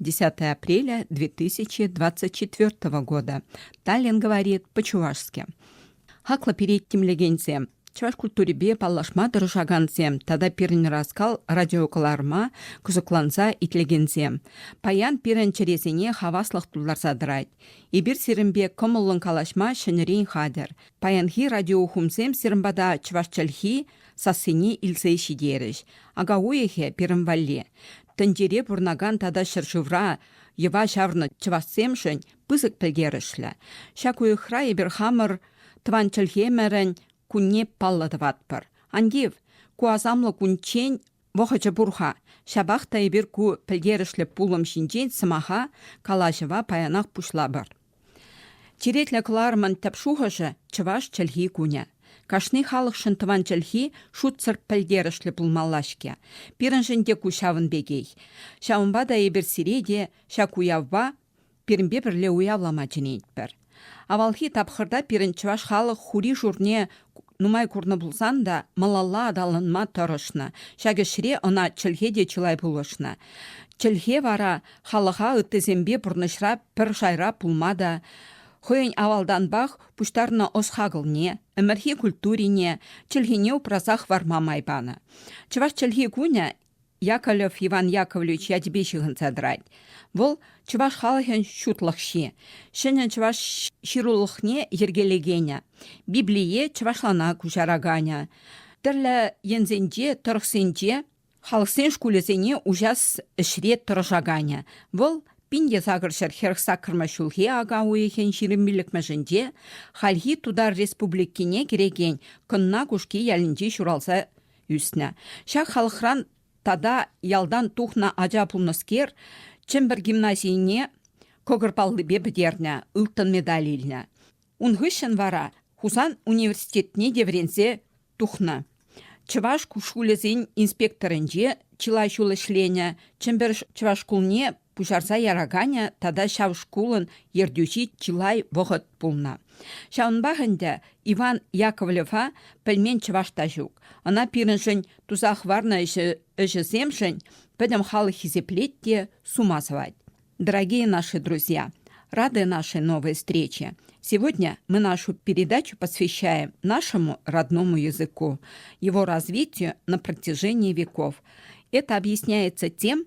10 апреля 2024 года. Таллин говорит по-чувашски. Хаклӑ пирет тимлекенсем, чӑваш культурипе паллашма тӑрӑшакансем тата пирӗн раскал радиокӑларма кӑсӑкланса итлекенсем. Паян пирӗн чӗресене хаваслӑх тултарса тӑрать. Эпир сирӗнпе кӑмӑллӑн калаҫма ҫӗнӗрен хатӗр. Паянхи радиохумсем сирӗн пата чӑваш чӗлхи, сассине илсе ҫитерӗҫ. Ака уйӑхӗ пирӗн валли. Тӗнчере пурӑнакан тата ҫӗршывра йӑва чавнӑ чӑвашсемшӗн пысӑк пӗлтерӗшлӗ. Ҫак уйӑхра эпир хамӑр тӑван чӗлхемӗрӗн кунне паллӑ тӑватпӑр. Ан тив, ку асамлӑ кунччен Вӑхӑчӗ пур-ха, ҫапах та эпир ку пӗлтерӗшлӗ пулӑм ҫинчен сӑмаха, калаҫӑва паянах пуҫлапӑр. Черетлӗ кӑларӑмӑн тӗп шухӑшӗ, чӑваш чӗлхи кунӗ. Кашни халӑхшӑн тӑван чӗлхи шутсӑр пӗлтерӗшлӗ пулмалла-ҫке. Пирӗншӗн те ку ҫавӑн пекех. Ҫавӑнпа та эпир сире те ҫак уявпа пирӗнпе пӗрле уявлама чӗнетпӗр. Авалхи тапхӑрта пирӗн чӑваш халӑх хури-шурне нумай курнӑ пулсан та малалла аталанма тӑрӑшнӑ. Ҫак ӗҫре ӑна чӗлхе те чылай пулӑшнӑ. Чӗлхе вара халӑха ыттисемпе пурнӑҫра пӗр шайра пулма та хӑйӗн авалтанпах пуҫтарнӑ ӑс-хакӑлне, ӗмӗрхи культурине, чӗлхене упраса хӑварма май панӑ. Чӑваш чӗлхи кунӗ Яковлев Иван Яковлевич ячӗпе ҫыхӑнса тӑрать. Вӑл, чӑваш халӑхӗн ҫутлӑхҫи. Ҫӗнӗ чӑваш ҫырулӑхне йӗркелекенӗ, Библие чӑвашлана куҫараканӗ. Тӗрлӗ енсенче, тӑрӑхсенче халӑхсен шкулӗсене уҫас ӗҫре тӑрӑшаканӗ. Вӑл пин сакӑр ҫӗр хӗрӗх-саккӑрмӗш ҫулхи ака уйӑхӗн ҫирӗм пиллӗкмӗшӗнче хальхи Тутар Республикине кӗрекен Кӑнна Кушки ялӗнче ҫуралса ӳснӗ. Ҫак халӑхран тата ялтан тухнӑ ача пулнӑскер Чӗмпӗр гимназине кӑкӑр паллипе пӗтернӗ, ылтӑн медаль илнӗ. Ун хыҫҫӑн вара Хусан университетне те вӗренсе тухнӑ. Чӑваш шкулӗсен инспекторӗнче чылай ҫул ӗҫленӗ, Чӗмпӗр чӑваш шкулне пуҫарса яраканӗ тата ҫав шкулӑн ертӳҫи чылай вӑхӑт пулнӑ. Ҫавӑнпах ӗнтӗ Иван Яковлева пӗлмен чӑваш та ҫук. Ӑна пирӗншӗн туса хӑварнӑ ӗҫӗсемшӗн пӗтӗм халӑх хисеплет те сума сӑвать. Дорогие наши друзья, рады нашей новой встрече. Сегодня мы нашу передачу посвящаем нашему родному языку, его развитию на протяжении веков. Это объясняется тем,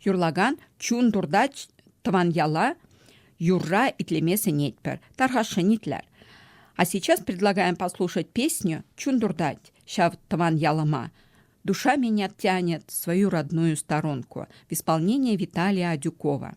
юрлакан чун туртать тӑван яла юрра итлеме сӗнетпӗр. Тархасшӑн итлер. А сейчас предлагаем послушать песню «Чун туртать» ҫав тӑван ялӑма. «Душа меня тянет в свою родную сторонку» в исполнении Виталия Адюкова.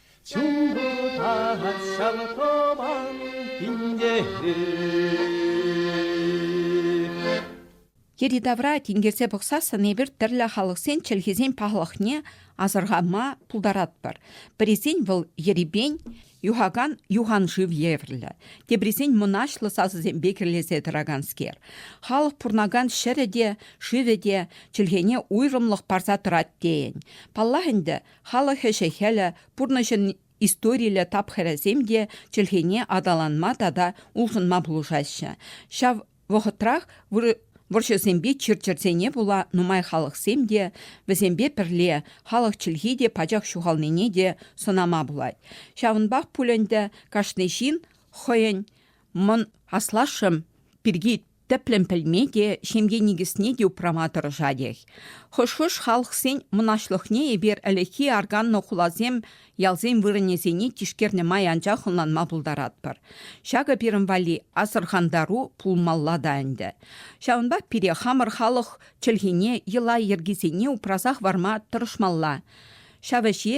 Чуртать ҫавӑтоман тинкерӳ. Йӗри-тавра тинкерсе пӑхсассӑн эпир тӗрлӗ халӑхсен чӗлхисен пахлӑхне асӑрхама пултаратпӑр. Пӗрисен вӑл ерипен, юхакан юхан шыв евӗрлӗ, теприсен мӑнаҫлӑ сасӑсемпе кӗрлесе тӑраканскер. Халӑх пурӑнакан ҫӗрӗ те, шывӗ те чӗлхене уйрӑмлӑх парса тӑрать тейӗн. Паллах ӗнтӗ, Халӑх ӗҫӗ-хӗлӗ, пурнӑҫӑн историллӗ тапхӑрӗсем те чӗлхене аталанма тата улшӑнма пулӑшаҫҫӗ. Ҫав вӑхӑтрах вӑрҫӑсемпе чир-чӗрсене пула нумай халӑхсем те, вӗсемпе пӗрле халӑх чӗлхи те пачах ҫухалнине те сӑнама пулать. Ҫавӑнпах пуль ӗнтӗ кашни ҫын хӑйӗн мӑн аслашшӗ пирки тӗплӗн пӗлме те, ҫемье никӗсне те упрама тӑрӑшатех. Хӑш-хӑш халӑхсен мӑнаҫлӑхне эпир ӗлӗкхи арканнӑ хуласем, ялсен вырӑнӗсене тишкернӗ май анчах ӑнланма пултаратпӑр. Ҫакӑ пирӗн валли асӑрхантару пулмалла та ӗнтӗ. Ҫавӑнпа пире хамӑр халӑх чӗлхине, йӑла-йӗркисене упраса хӑварма тӑрӑшмалла. Ҫав ӗҫе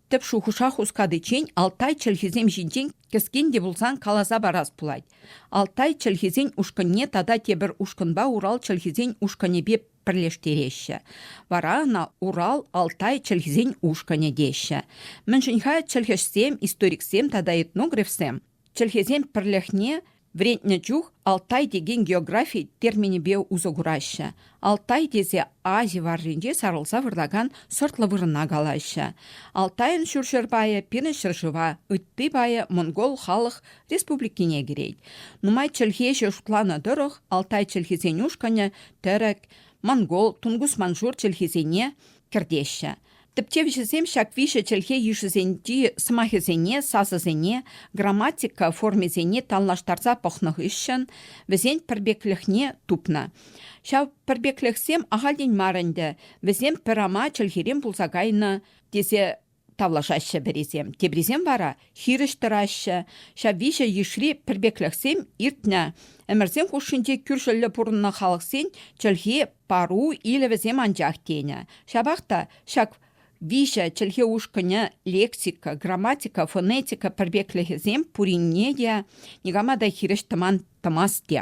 Тӗп шухӑша хускатиччен Алтай чӗлхисем ҫинчен кӗскен те пулсан каласа парас пулать. Алтай чӗлхисен ушкӑнне тата тепӗр ушкӑнпа Урал чӗлхисен ушкӑнӗпе пӗрлештереҫҫӗ. Вара ӑна Урал, Алтай чӗлхисен ушкӑнӗ теҫҫӗ. Мӗншӗн-ха чӗлхӗҫсем, историксем тата этнографсем Чӗлхесен пӗрлӗхне вӗрентнӗ чух Алтай текен географи терминӗпе усӑ кураҫҫӗ. Алтай тесе Ази варринче сарӑлса выртакан сӑртлӑ вырӑна калаҫҫӗ. Алтайӑн ҫурҫӗр пайӗ пирӗн ҫӗршыва, ытти пайӗ монгол халӑх республикине кӗрет. Нумай чӗлхе ӗҫӗ шутланӑ тӑрӑх Алтай чӗлхисен ушкӑнӗ тӗрӗк, монгол, тунгус-маншур чӗлхисене кӗртеҫҫӗ. Тӗпчевҫӗсем ҫак виҫӗ чӗлхе йышӗсенчи сӑмахӗсене, сасӑсене, грамматика формисене танлаштарса пӑхнӑ хыҫҫӑн вӗсен пӗрпеклӗхне тупнӑ. Ҫав пӗрпеклӗхсем ахальтен мар ӗнтӗ, вӗсем пӗр ама чӗлхерен пулса кайнӑ тесе тавлашаҫҫӗ пӗрисем, теприсем вара хирӗҫ тӑраҫҫӗ. Ҫав виҫӗ йышри пӗрпеклӗхсем иртнӗ. Ӗмӗрсем хушшинче кӳршӗллӗ пурӑннӑ халӑхсен чӗлхи, пару илӗвӗсем анчах тенӗ. Ҫапах та ҫак виҫӗ чӗлхе ушкӑнӗ лексика, грамматика, фонетика пӗрпеклӗхӗсем пуринне те никама та хирӗҫ тӑман тӑмасть те.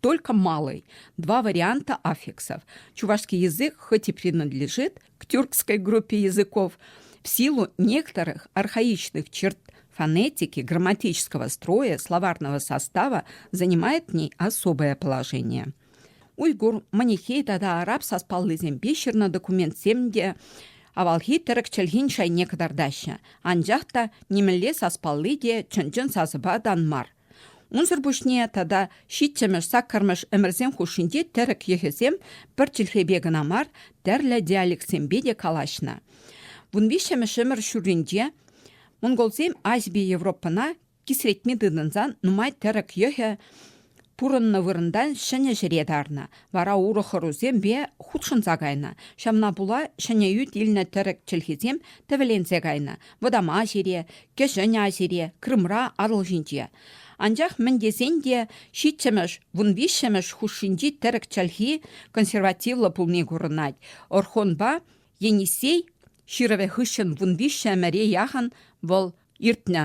только малый. Два варианта аффиксов. Чувашский язык хоть и принадлежит к тюркской группе языков, в силу некоторых архаичных черт фонетики грамматического строя словарного состава занимает в ней особое положение. Уйгур, манихей тата араб саспаллисемпе ҫырнӑ документсем те авалхи тӗрӗк чӗлхин шайне кӑтартаҫҫӗ. Анчах та нимӗнле саспалли те чӑн-чӑн сасӑпа та мар. Унсӑр пуҫне тата ҫиччӗмӗш, саккӑрмӗш ӗмӗрсем хушшинче тӗрӗк йӑхӗсем пӗр чӗлхепе кӑна мар, тӗрлӗ диалектсемпе те калаҫнӑ. Вун виҫҫӗмӗш ӗмӗр ҫурринче монголсем Ази Европӑна кисретме тытӑнсан нумай тӗрӗк йӑхӗ пурӑннӑ вырӑнтан ҫӗнӗ ҫӗре тарнӑ, вара урӑх ӑрусемпе хутшӑнса кайнӑ. Ҫавна пула ҫӗнӗ ӳт илнӗ тӗрӗк чӗлхисем тӗвӗленсе кайнӑ. Вӑтам Азире, Кӗҫӗн Азире, Крымра, Атӑл ҫинче. Анчах мӗн тесен те ҫиччӗмӗш, вун виҫҫӗмӗш хушшинчи тӗрӗк чӗлхи консервативлӑ пулни курӑнать. Орхонпа Енисей ҫырӑвӗ хыҫҫӑн вун виҫҫӗмӗре яхӑн вӑл иртнӗ.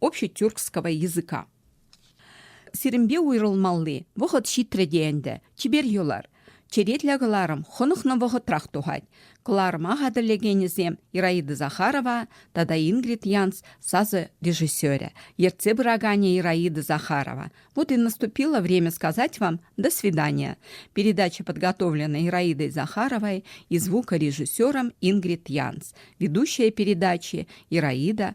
общетюркского языка. Сирӗнпе уйрӑлмалли вӑхӑт ҫитрӗ те ӗнтӗ, чипер юлар. Черетлӗ кӑларӑм хӑнӑхнӑ вӑхӑтрах тухать. Кӑларӑма хатӗрлекенӗсем Ираида Захарова тата Ингрид Янс сасӑ режиссерӗ, ертсе пыраканӗ Ираида Захарова. Вот и наступило время сказать вам до свидания. Передача подготовлена Ираидой Захаровой и звукорежиссером Ингрид Янс. Ведущая передачи Ираида